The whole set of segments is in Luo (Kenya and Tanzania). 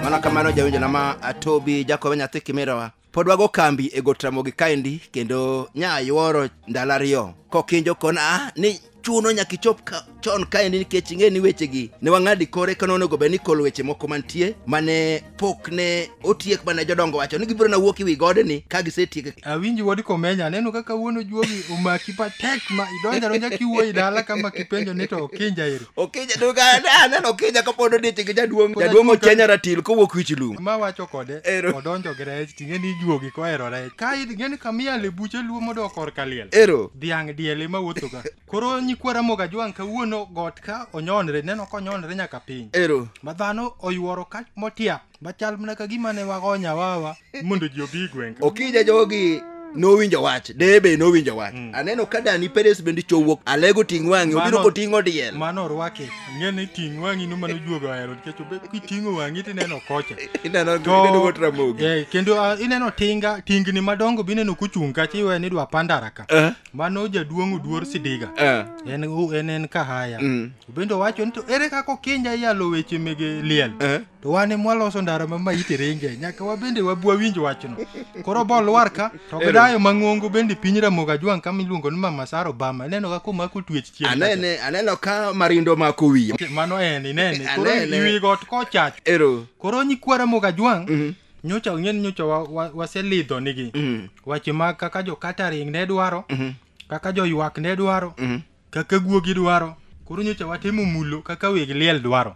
mano kamano jawinjona ma atobi jakobe nyathi kimirowa pod wago kambi e got ramogi kaendi kendo nyayuoro ndalo ariyo kokinjo kona ni chuno nyaka ichop ka, chon kaendi nikech ing'e ni wechegi ne wang'adi kore kane onego bed ni kolo weche moko mantie mane pok ne otiek mane jodongo wacho ni gibiro na wuok ewi godeni ka gisetiek awinji wod komenya aneno kaka wuono juogi omaki patek ma idonja donja kiwuoyi dala kama kipenjo ni to okinja eri okinja to ka- ne aneno okinja kapod odich gi jaduong' jaduong' ochenya ratil kowuok wich lum ma wacho kode Ero. odonjo gi rech ting'e ni juogi kohero rech ka idhi ng'eni kamiel e buche luo modok korka liel ero dhiang' diel ema wuothoga koro nyikwa ramoga jwang' kawuono got ka onyonre neno konyonre nyaka piny ero ma dhano oyuoro ka motiap machal mana ka gima ne wago nyawawa mondo ji obi gweng' ka. okija jogi nowinjo wach deye be nowinjo wach aneno ka dani peres bende chowuok alego ting' wang'e obiro Mano- koting'o diel mano orwake ing'e ni ting' wang'i no mano juoga ohero nikech obe- kiting'o wang'i to ineno kocha Ineno To- ineno got ramogi. Eh, kendo ah, ineno tinga tingni madongo be ineno kuchung' kacha iwe ni dwa pandara ka Eh, mano jaduong' oduor sidiga eh, en u- en en kahaya mm, bende owacho ni to ere kaka okinja iyalo weche mege liel eh. to wan e mwaloso ndara ma maiti ringe nyaka wabende wabwawinj wachno koro bolwar ka to gidayo mang'ongo bende piny ramogo ajwang' kama iluongo ni mama sara obama ineno kaka omako twech chien anene aneno ka marindo mako wiye mano en inene koro Anene. iwi got kochach ero koro nyikwa ramogo ajwang' Mhm. nyocha ong'eni nyocha wa- wa- waselidho nigi Mhm. wache mag kaka jo catering ne dwaro Mhm. kaka joywak ne dwaro Mhm. kaka guogi dwaro koro nyocha watemo mulo kaka weg liel dwaro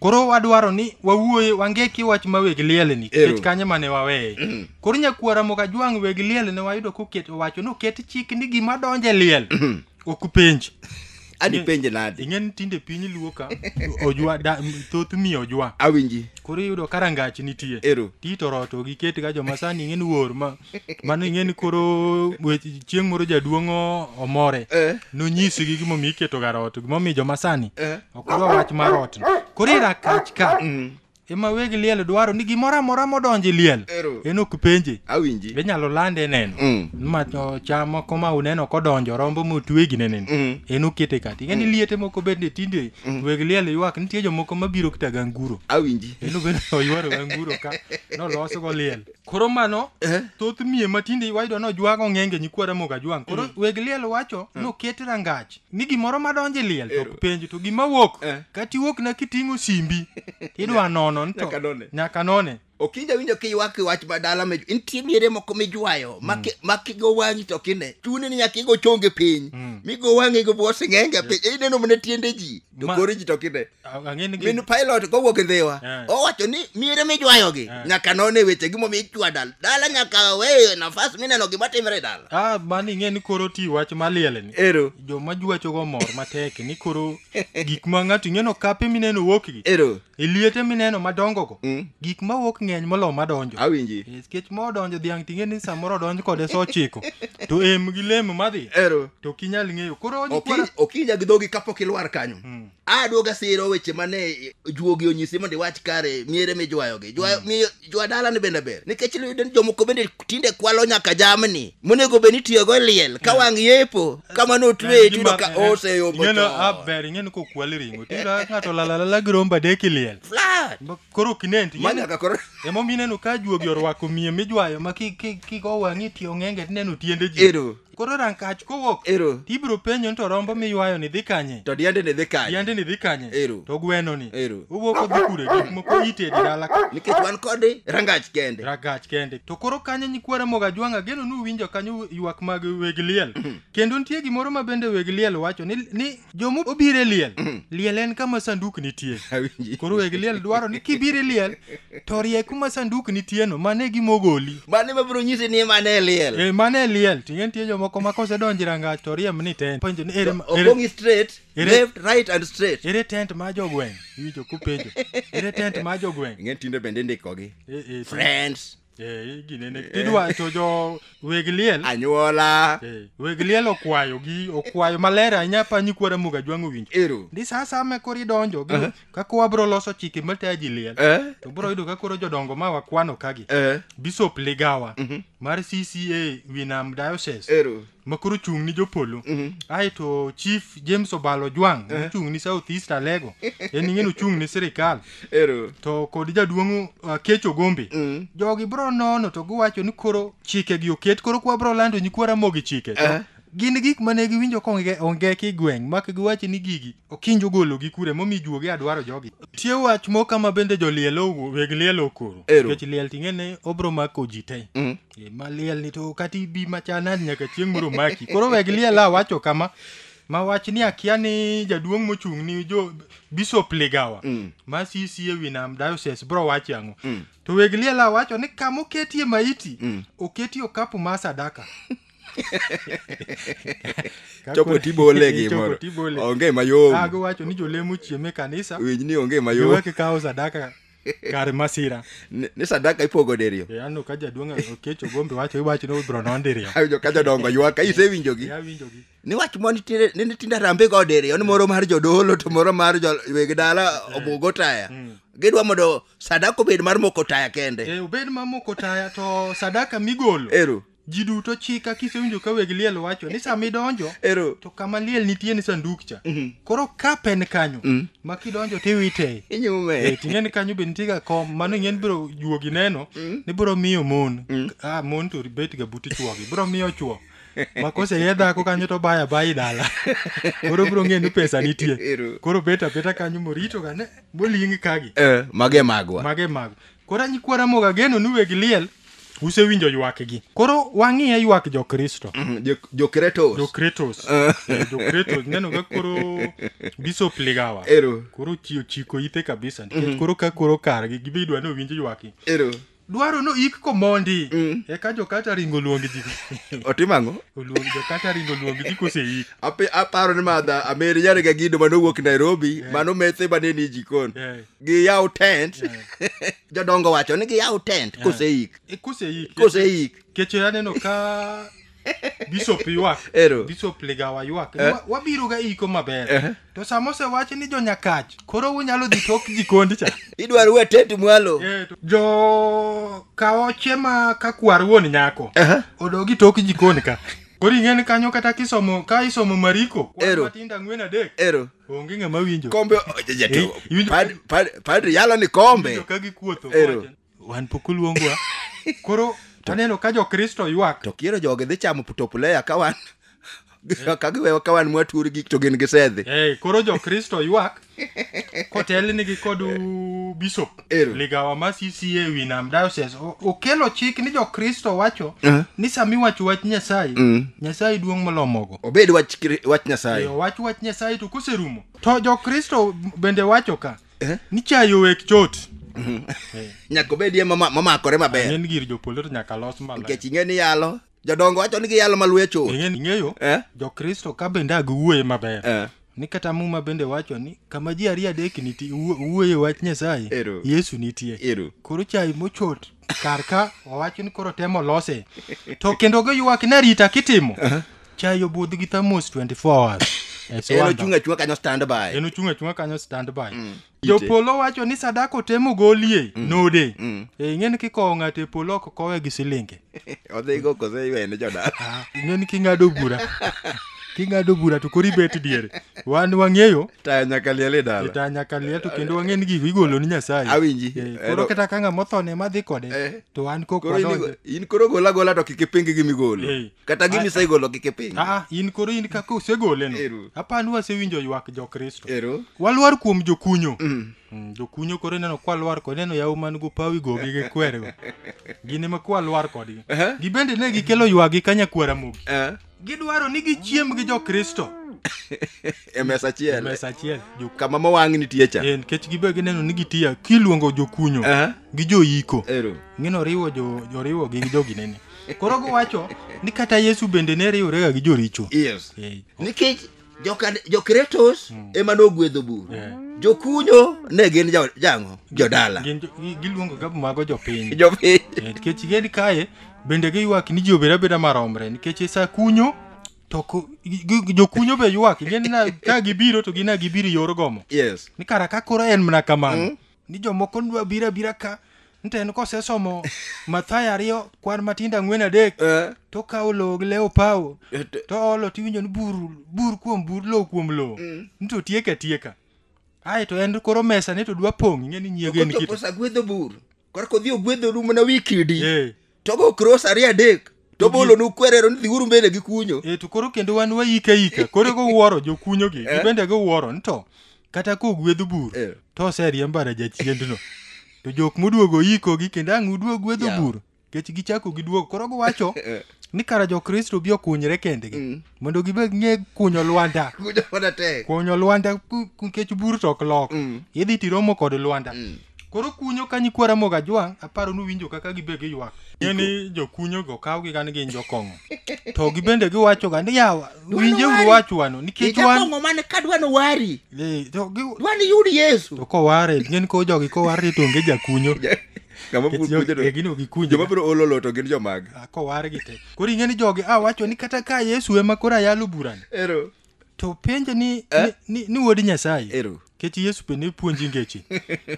koro wadwaro ni wawuoye wangeki wach ma weg lielni Ero. nikech kanyo mane waweye koro nyakwara moka jwang' weg liel ne wayudo koket owacho noket chik ni gima donje liel ok penj ani penje nadi ing'e ni tinde piny luo ka ojwa da, m- thoth mi ojwa awinji koro iyudo ka rangach nitie ero titoro to giket ga joma sani ing'e ni wor ma mano ing'e ni koro chieng' moro jaduong' omore eh. nonyisi gi gimomiyo iketo gar ot gimomiyo joma sani eh. okoro wach mar ot koro irakach ka mm. ema weg liel dwaro ni gimoro amora modonji liel en ok penje awinji inyalo lande neno mm. ma cham moko ma uneno kodonjo rombo motwegi ne neno mm. en okete kati ng'eni mm. liete moko bende tinde mm. weg liel ywak nitie jomoko mabiro kata ganguro awinji en obende oywaro ganguro ka nolosogo liel Koro mano Eh? thoth miye matinde wayudo nojwang' ong'enge nyikwa Ramogi Ajwang'. Koro weg liel wacho noket rangach ni gimoro madonje liel to ok penj to gima wuok Eh. kata iwuok na kiting'o simbi idwa nono nto Nyaka none. nyaka none. okinja winjo kiywak wach madala me nitie miere moko mijwayo maki- makigo wang'i to kine chuni ni nyaka igo chonge piny migo wang'i go bwo sing'enge piny ineno mana tiende ji to Ma- kore ji to kine Ang'e ni min pilot kowuok e ndhiwa Eh. owacho ni miere mijwayogi Eh. nyaka none weche gimomiyo ichwa dal dala nyaka weye nafas mineno gima timre e dala ah mani ing'e ni koro ti wach maliel ni ero joma jwachogo mor matek ni koro gik ma ng'ato ing'eno kape mineno wuokgi ero e liete mineno madongogo Mm. gik ma wuok ng'eny molo madonjo awinji E, nikech ma odonjo dhiang' ting'e ni samoro odonj kode sa ochiko to em gi lem madhi ero to ok inyal ng'eyo koro Oki- okinya gi dhogi kapok ilwar kanyo Mm. aduoga siro weche mane juogi onyisi mondo iwach kare miere mijwayogi jwa, mi, jwa dala ni bende ber nikech iyudo ni jomoko bende tinde kwalo nyaka jamni monego bed ni itiyogo e liel ka wang' yepo kamano otweye tiyudo ka oseyombo Ing'eno, chon. ah, ber ing'eni kokwal ring'o tiyudo ka ng'ato lalalala gi rombo adek e liel Flat. Ma- koro ok inen to Ma ing'eni- nyaka koro emomiyo ineno ka juogi orwako miye mijwayo ma ki- ki- kik owang'i tiyo ng'enge tineno tiende ji ero Koro rankach kowuok. Ero. Tibiro penjo ni to rombo miywayo ni dhi kanye? To diende ni dhi kanye? Diende ni dhi kanye? Ero. To gweno ni. Ero. Owuok odhi kure gik moko ite e dala. Nikech wan kode rangach kende. Rangach kende. To koro kanye nyikwara moga jwanga geno ni uwinjo kanyo ywak mag weg liel. Mhm. Kendo nitie gimoro ma bende weg liel wacho ni ni Jomo obiro e liel. Mm. Liel en kama sanduk nitie. Koro weg liel dwaro ni kibiro e liel to rie kuma sanduk nitie no mane gi mogoli. Mane ma bro nyisi ni mane e liel. Eh mane e liel. Tingen tie jomo koma kose donji ranga to riem ni tent. Penjo ni ere. Okongi straight. Ere, left, right and straight. Ere tent ma jogweng. Ijo kupenjo. Ere tent ma jogweng. Ngen tinde bende ndikogi. Eh, eh, Friends. Eh, ginene idwa to jo weg liel anyuola eh, weg liel okwayo gi okwayo maler ahinya pa nyikwa ramuga jwang'o winjo ero ndi sa asaya ma koro idonjo biro- kaka wabiro loso chike matayo ji liel eh to biro yudo ka koro jodongo ma wakwano kagi eh bishop ligawa mar cca winam diocese ero ma koro chung' ni jopolo mhm. aeto chief james obalo jwang eh. mochung' ni south east alego en ing'eni ochung' ni sirikal to kod jaduong' uh, kecho gombe mm. jogi bro nono to giwacho ni koro chikegi oket koro kwa bro lando nyikwa ramogi chike eh. gin gik mane giwinjo ka onge ki gweng' mak giwacho ni gigi okinjo gologi kure momi juogi adwaro jogi tie wach moko ma bende joliel weg liel okoro nikech liel ting'e ne obro mako ji te mm. Eh, maliel ni to kata ibi machanani nyaka chieng' moro maki koro weg liel awacho kama ma wach ni akia ni jaduong' mochung' ni jo bishop ligawa mm. ma sisi e wi nam diocese bro wache ang'o mm. to weg liel awacho ni kama oketie maiti mm. oketie okapu ma sadaka chopo tibole gimoro onge mayom ago wacho ni jolemo chieme kanisa winj ni onge mayom kawo sadaka kar masira Ni- ni sadaka ipogo diriyo e anno ka jaduong' okech ogombe wacho iwacho ni obro nondiriyo awinjo ka jodongo ywaka isewinjogi awinjogi niwach mo nitiere ni nitindo arambe go diriyo ni moro mar jodolo to moro mar jo- weg dala obugo taya gidwa mondo sadaka obed mar moko taya kende e obed mamoko taya to sadaka migolo eru ji duto chika kisewinjo ka weg liel wacho ni sama idonjo Ero. to kama liel nitie ni sanduk cha koro kap en kanyo Mm. ma kidonjo tiwite Inyume. Eh, ting'e ni kanyo be nitie ga kom mano ing'e ni biro juogi neno ni biro miyo mon ah, mon to bet ga buti chuogi biro miyo chuo ma koseye dhako kanyo to baya bayi dala koro biro ng'e ni pesa nitie Ero. koro bet abeta kanyo morito ga ne moling kagi Eh, mage magwa. mage mago Koro a nyikwa Ramogi ageno ni weg liel usewinjo ywakgi. Koro wang'iye ywak jo Kristo. Mm, jo- Jo-Kretos. Jokretos. Eh, Jokretos. Neno ka koro Bishop Ligawa. Ero. Koro chi- ochiko ite kabisa nikech Mhm. koro ka koro kargi gibe idwa ni owinj ywaki. Ero. Dwaro no ik komondi. Eka jokata ringo luong ji. Otimo ang'o? Oluong jokata ringo luong ji kose ik. Ape- aparo ni madha ameri nyare ga gido mane owuok nairobi mano methe mane ni jikon giyaw tent jodongo wacho ni giyaw tent koseik E, koseik koseik keche aneno ka bishop ywak Ero. bishop ligawa ywak Wa- wabiro ga iko maber Eh. to sama osewach ni jonyakach koro unyalo dhi tok jikondi cha idwaro we tent mwalo Eh, to- jo kaoche ma ka kwar wuon nyako Aha. odogi tok jikoni ka koro ing'e ni kanyo kata kisomo ka isomo mariko kwan Ero. matindo ang'wen adek ero onge ng'ama winjo kombe Eh, jatio iwinjo- Pad- pad- padri yalo ni kombe Winjo ka gikuotho Ero. kowacho, wan pok oluongwa koro taneno ka jokristo ywak to kiero jogi dhi chamo putopuleya ka wan ka giwewa ka wan mwaturi gik to gin gisedhi Eh, koro jokristo ywak kotelnigi kod u- bishop Ero. Ligawa ma CCA wi nam diocese o- okelo chik ni jokristo wacho Eh. ni sama iwacho wach nyasaye Mm. nyasaye duong' molo mogo obed wach kri- wach nyasaye Yo, wach wach nyasaye to koserumo to jokristo bende wacho ka Eh. ni chayo wek chot nyaka obedie mama- mamakore maber en gir jopolo to nyaka los maler nikech ing'e ni yalo jodongo wacho ni giyalo malwecho ing'eyo eh? jokristo ka bende agiwuoye maber eh. ni kata muma bende wacho ni kama ji ariyo adek nitie wuoye wach nyasaye yesu nitie Eru. koro chai mochot kar ka owacho ni koro temo lose to kendo giywak ni arita kitimo uh -huh. chai obudh gi thamos 24 hours en ochung' achunga kanyo standby en ochung' achunga kanyo standby mm. jopolo wacho ni sadaka otemo golie mm. node mm. e eh, ing'eni kikowo ng'ato e polo ok kowe gi silinge odhigo kose ywene jodala ah, ing'eni king'ado bura king'ado bura to koro ibet diere wan wang'eyo taya nyaka liel e dala taya nyaka liel to kendo wang'e ni gigo igolo ni nyasaye awinji eh, koro kata ka ng'ama othone ma dhi kode eh. to an kok wadonjo in koro gola gola to kik ipingi gi migolo eh. kata gini isegolo kik ipiny Ah, in koro in kaka usegole no Ero. apani wasewinjo ywak jokristo ero walwar kuom jokunyo Mm, jokunyo koro ineno kwalwar kod ineno yaw man go pawi go gi gikwerego gin ema kwalwar kodgi Aha. gibende ne gikelo ywagi ka nyakwara mogi eh, gidwaro ni gichiem gi jokristo e mesa achiel mesa achiel joku- kama mowang' nitie cha Eh, nikech gibe gineno ni gitiya kiluongo jokunyo Aha. gi joyiko ero ng'ino riwo jo- joriwogi gi joginene Koro giwacho ni kata Yesu bende ne riworega gi joricho. Yes. Eh, Nikech joka- jo-Kretos ema nogwedho bur. Yeah. Jokunyo ne gin jo- jang'o? Jodala. gin jo- gi- Giluongo ga mago jopiny. Jopiny. Eh, Nikech gin kae bende giywak ni ji obed abeda maromre nikech sa kunyo to ku- gi- gi- jokunyo be ywak gin na- ka gibiro to gina gibiro e yor gomo. Yes. Ni kara ka koro en mana kamano. Ni jomoko dwa biro abira ka Nten kosesomo Mathayo ariyo kwan matindo ang'wen adek Eh, to kawo lowo gi lewo pawo eh, t- to olo tiwinjo ni bur bur kuom bur lowo kuom lowo Mm. ni to tieka atieka ae to en koro mesa ni to dwa pong' ing'e ni nyiego en kochopo kit sa gwedho bur korka odhi ogwedho ru mana wi kidi Eh, to go cross ariyo adek to bolo nu kwerero ni dhiuru mbele gi kunyo e to koro kendo wan wayika yika koro gowuoro jokunyo gi eh? gibende gowuoro ni to kata ka ogwedh bur eh. to oseriembara jachiendno to jok moduogo yiko gi kendo ang' uduog gwedho bur kech gichako giduogo koro giwacho eh. ni kara jokristo bi okunyre kendgi mm. mondo gibed ng'e kunyo lwanda kunyo lwanda nikech bur to ok lok mm. idhi tiromo kod lwanda mm. Koro kunyo ka nyikwa Ramogi Ajwang' aparo nuwinjo kaka gibe giywak. Ng'e ni jokunyogo kawgi ga ni gin jokong'o. To gibende giwachoga ni yawa winjeuru wari. wach wano nikech wan Ijakong'o mane ka dwa no wari. Eh, to gi- Dwa ni yud Yesu. to koware ng'e ni ko jogi koware to onge jakunyo. Ng'ama Nikech puonjo jogi- to- eh, gin ok gikunyo. Joma biro olo lo to gin jomag. Ah, Koware gi te. Koro ing'e ni jogi a wacho ni kata ka Yesu ema koro ayalo burani. Ero. to penje ni, eh? ni, ni, ni wuod nyasaye ero kech yesu be ne puonji ngeche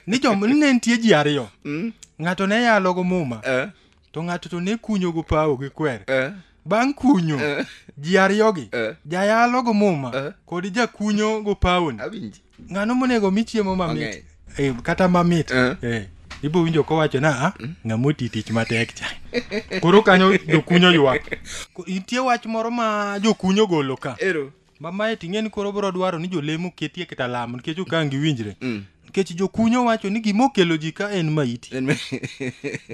ni jom ni ne nitie ji ariyo mm? ng'ato ne yalogo muma eh? to ng'ato to ne kunyogo pawo gi kwer eh? bang' kunyo eh? ji ariyogi eh? jayalogo muma eh? kod jakunyogo pawoni ng'ano monego mi chiemo mamit Mang'eny. Eh, kata mamit Eh. Eh, ibo winjo kowacho na "Ah, ng'amo ti tich matek cha koro kanyo jokunyo ywak Ko- nitie wach moro ma jokunyo golo ka Ero. mamae ting'e ni koro bro dwaro ni jolemo ketie kata lamo nikech okangi winjre Mm. nikech jokunyo wacho ni gima okelo ji ka en maiti En me-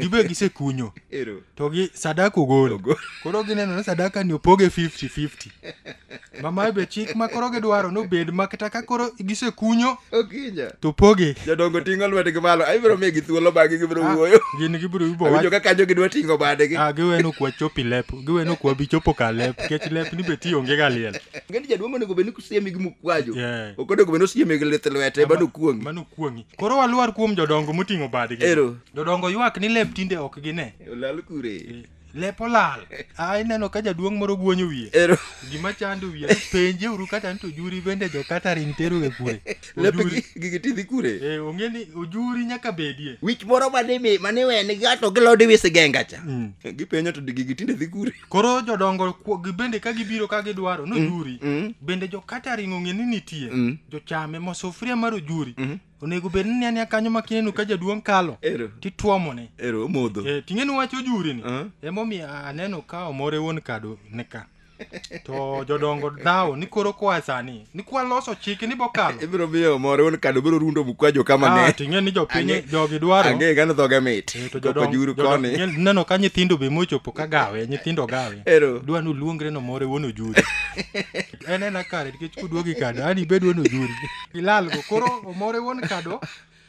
gibe gisekunyo Ero. to gi sadaka ogol koro gineno ni sadaka ni opoge 50-50 mama be chik ma koro gidwaro nobed ma kata ka koro gisekunyo okinya to poge jodongo ting'o lwetgi malo abiro migi thuolo bang'e gibiro ah, wuoyo gin gibiro ibo winjo ka kanyo gidwa ting'o badegi ah giweno kwa chopi lep giweno kwa bi chopo ka lep kech lep ni be tiyo onge ga liel ngeni jaduong' onego bed ni kusiemi gi mukwajo ok onego bed ni osiemi gi lith lwete mano kuong'i mano kuong'i koro waluar kuom jodongo moting'o badgi ero jodongo ywak ni lep tinde ok gine olal kure lep olal a ineno ka jaduong' moro guonyo wiye ero gima chando wiye penje uru kata ni to juri bende jo catering teruge kure lepe Ojuri. gi- gigi tidhi kure Eh, ong'e ni ojuri nyaka bedie wich moro mane mi- mane wen gato gilod wisi genga cha Mm. gipenyo to gigi tinde dhi kure koro jodongo ku- gi- bende ka gibiro ka gidwaro nojuri mm. bende jo catering ong'e ni nitie Mm. jochame ma sufuria mar ojuri onego bed ni ania kanyo ma kineno ka jaduong' kalo ero tituomone ero omodho Eh, ting'eni wach ojuri ni Ah. emomiyo aneno ka omore wuon kado ni ka to jodongo dhawo ni koro koa sani ni kwaloso chike ni bokalo ibiro miyo omore wuon kado biro rundo mkwajo kama Ah, ne ting'eni ni jopiny Ang'e- jogi dwaro ang'e gano dhoge mit Eh, to koko jodong- juru jodong- koni nye- neno ka nyithindo be mochopo ka gawe nyithindo gawe ero dwa ni oluongre nomore wuon ojuri en en akare nikech kuduogi kado ani bed wuon ojuri ilalgo koro omore wuon kado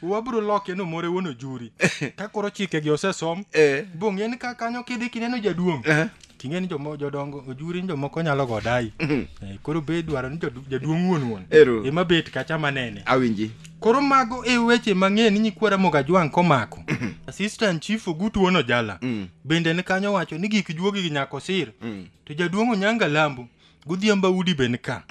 wabro loke ni omore wuon ojuri ka koro chikegi osesom Eh. bong'e ni ka kanyo kidhi kineno jaduong' Eh. ting'e ni jomo- jodongo ojuri ni jomoko nyalo go dayi Eh, koro be idwaro ni jadu- jaduong' wuon wuon Ero. ema bet kacha manene Awinji. koro mago e weche mang'eny ni nyikwara mogajwang' komako assistant chief ogutu wono jala Mm. bende ni kanyo wacho ni gik juogi gi nyako sir Mm. to jaduong' onyanga lambo godhiambo udi be nika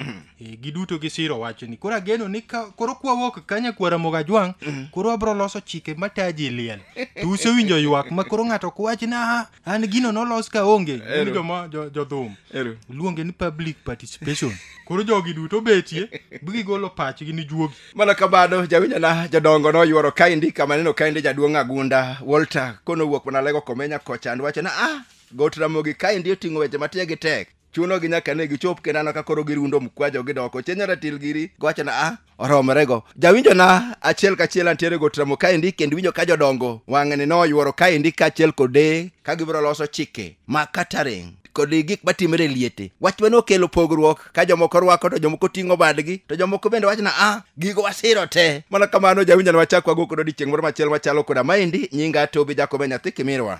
Eh, giduto gisiro wachni koro ageno ni ka koro kwawuok ka nyakwara mogajwang' koro abro loso chike mataji liel to usewinjo ywak ma koro ng'ato ok wach ni "Ah, an gino nolos ka onge Ero. joma jo- jodhum Ero. luonge ni public participation koro jogi duto betie bigigolo pachgi ni juogi mana kamano jawinjana jodongo noyuoro kaindi kama neno kaindi jaduong' agunda walter kono wuok mana lego komenya kochan wacho na ah got ramogi kaindi oting'o weche matiegi tek chuno gi nyaka ne gichop kendo aneno ka koro girundo mkwajo gidoko chenyo ratil giri gowacho na a oromorego jawinjo na achiel kachiel antiere go tramo kaendi kendo winjo ka jodongo wang'ni noyuoro kaendi kaachiel kode ka gibiro loso chike ma kataring kod gik matimre e liete wach mane okelo pogruok ka jomoko rwako to jomoko ting'o badgi to jomoko bende wachna a gigo wasiro te mana kamano jawinjo na wachak wago kodo odiechieng' moro machielo machalo koda maendi nyinga tobi jakobe nyathi kimirwa